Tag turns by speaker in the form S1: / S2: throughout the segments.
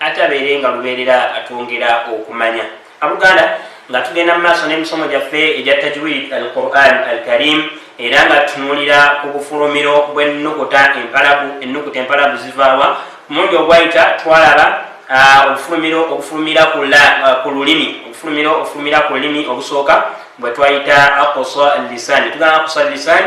S1: ate abeere nga lubeerera atwongera okumanya abuganda nga tugenda mu maaso n'emisomo gyaffe egya tajwid al quran al karim era nga tutunulira ku bufulumiro bw'ennukuta empalagu ennukuta empalagu zivaawa mulundi ogwayita twalaba obufulumiro obufulumira ku lulimi obufulumiro obufulumira ku lulimi obusooka bwe twayita akosa lisani tugamba akosa lisani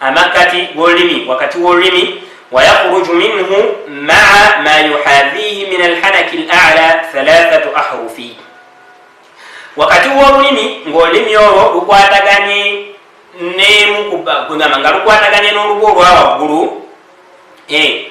S1: amakkati g'olulimi wakati w'olulimi wayakhruju minhu maa ma yuhadhihi min alhanaki lala thalathatu ahrufi wakati w'olulimi ng'olulimi olwo lukwataganye nemukuba nga lukwataganye n'olubu olwa waggulu eh,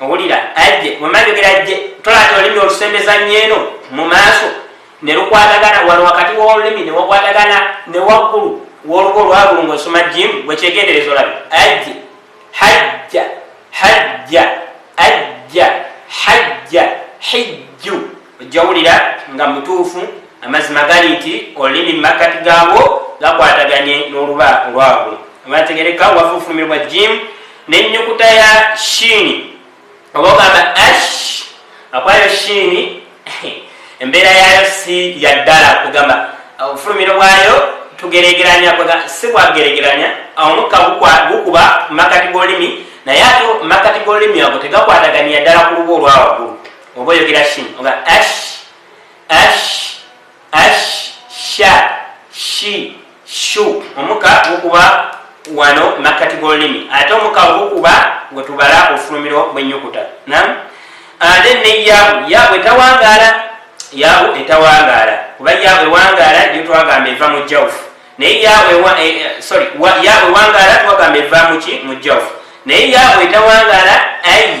S1: owulira ajje wemanjogera ajje tolabye olulimi olusembeza nyeeno mu maaso ne lukwatagana wano wakati w'olulimi ne wakwatagana ne waggulu w'olugo olwagulu ng'osoma jimu wekyegendereza olabe ajje hajja hajja ajja hajja hijju ojja wulira nga mutuufu amazima gali nti olulimi mumakkati gaabwo gakwataganye n'oluba olwabwe abategereka wafuufulumirwa jimu nenyukuta ya shiini oba ogamba ash akwayo shiini embeera yaayo si yaddala kugamba obufulumiro bwayo tugeregeranya si bwageregeranya omukka gukuba mumakkati g'olulimi naye ate mumakkati g'olulimi ago tegakwataganye yaddala ku luba olwawaggulu oba oyogera shin oga ash ash ash sha shi shu omuka gukuba wano makkati g'olulimi ate omuka ogukuba gwe tubala ofulumiro bw'ennyukuta nam ate ne yabu yabu etawangaala yabu etawangaala kuba yabu ewangaala yo twagamba eva mu jawufu naye yabu eh, eh, sorry yabu ewangaala twagamba eva muki mu jawufu naye yabu etawangaala ayi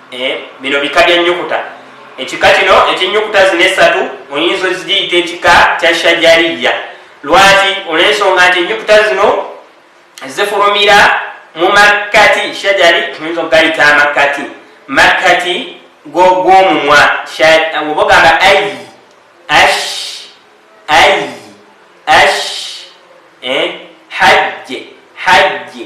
S1: Eh, bino bika bya nyukuta ekika kino ekyenyukuta zino esatu oyinza ozigiyita ekika kya shajariya lwaki olwensonga nti enyukuta zino zifulumira mu makkati shajari oyinza okugayita amakkati makkati gwomumwa oba ogamba ai ash ai ash eh, hajje hajje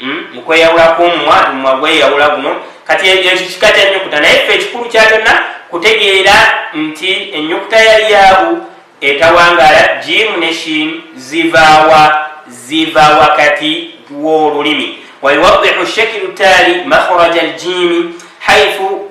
S1: Hmm? mukweyawulako omumwa omumwa gweyawula guno kati ekyo kika kya nyukuta naye fe ekikulu kya kyonna kutegeera nti enyukuta ya yaabu etawangala jimu ne shin zivaawa ziva wakati w'olulimi wayuwadihu shekiru taali makhraja aljimi haifu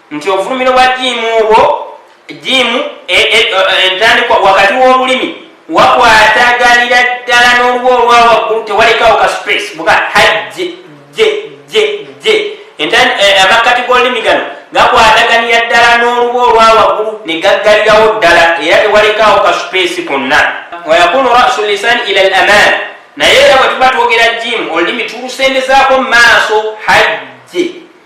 S1: nti obufulumiro bwa jiimu obwo jiimu e, e, e, entandikwa wakati w'olulimi wakwatagalira ddala n'oluba olwa waggulu tewalekawo ka space buga hajje je je je amakkati g'olulimi gano gakwataganira ddala n'oluba olwa waggulu ne gaggalirawo ddala era tewalekawo ka space konna wayakunu rasu lisan ila al aman naye era bwe tuba twogera jiimu olulimi tulusembezaako mu maaso hajje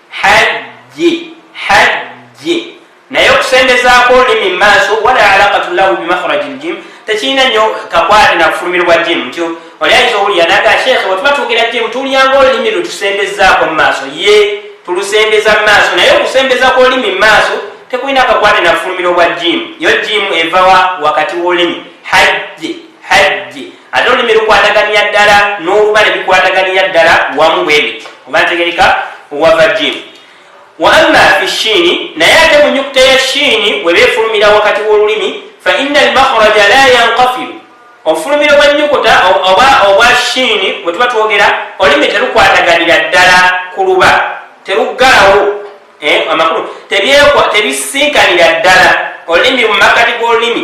S1: hajji hajji naye okusembezaako olulimi mumaaso wala alaqatu lahu bimakhraji ljim tekirina nyo kakwate nakufulumirwa jim nti oli ayinza owulira naga sheekhe wetuba twogera jim tulyanga olulimi lwetusembezaako mumaaso ye tulusembeza mumaaso naye okusembeza kwolulimi mumaaso tekulina kakwate nakufulumira obwa jim yo jim evawa wakati wolulimi hajji hajji ate olulimi lukwataganira ddala n'olubale bikwataganira ddala wamu bwebiti oba ntegereka wava jini wa amma fi shiini naye ate mu nyukuta ya shiini weba efulumira wakati w'olulimi fa inna almakhraja la yankafiru obufulumiro bwa nyukuta oba obwa shiini bwe tuba twogera olulimi terukwataganira ddala ku luba teruggalawo eh, amakulu tebisiikanira ddala olulimi mu makkati g'olulimi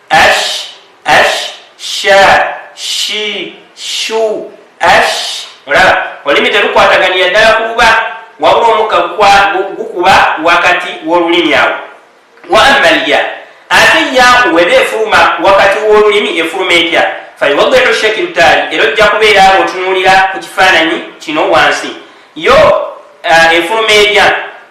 S1: Ash, ash, sha, shi, shu, ash. Olaba, olulimi terukwataganiya ddala ku buba, wabula omukka gukuba wakati w'olulimi awo. Wa amma lya, ate yaaku weba efuluma wakati w'olulimi efuluma etya? Fayuwaddihu shakiru taali, era ojja kubeera awo otunuulira ku kifaananyi kino wansi. Yo eh, efuluma erya.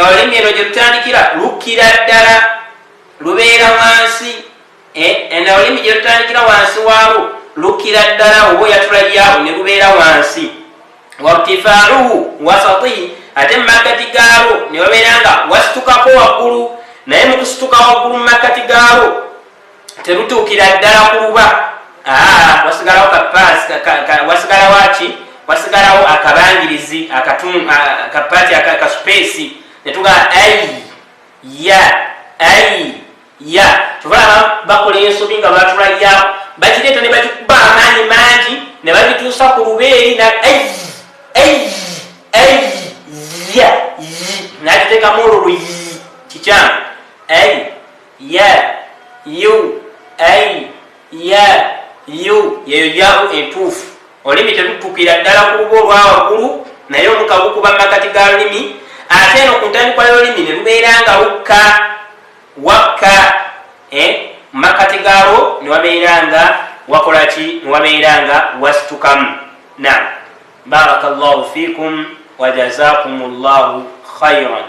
S1: olulimi eno gyerutandikira lukkira ddala lubeera wansi ena eh, olulimi gyerutandikira wansi waabo lukkira ddala oba oyatula yaabo ne lubeera wansi wartifaaluhu wasatihi ate mu makkati gaabo ne babeera nga wasitukako waggulu naye mu kusituka waggulu mu makkati gaabo terutuukira ddala ku luba ah, wasigalawo kapaasi wasigalawo aki wasigalawo akabangirizi akapaati akasupeesi netugamba ai ya ai ya kyova bakola ensobi nga batula ya bakireeta ne bakikuba amaanyi mangi ne babituusa ku lubeeri na ai ai ai ya nakiteekamu olwo luyi kikyamu ai Ya, yu, ai, ya, yu, yeyo yaawu entuufu. Olulimi telutukira ddala ku lubu olwa waggulu, naye omukka gukuba mu makkati ga lulimi, ate eno ku ntandikwa y'olulimi ne lubeera nga lukka, wakka, eh, mu makkati gaalwo ne wabeera nga wakola ki? Ne wabeera nga wasitukamu. Naam. Baraka Allahu fiikum wa jazaakumu Allahu khairan.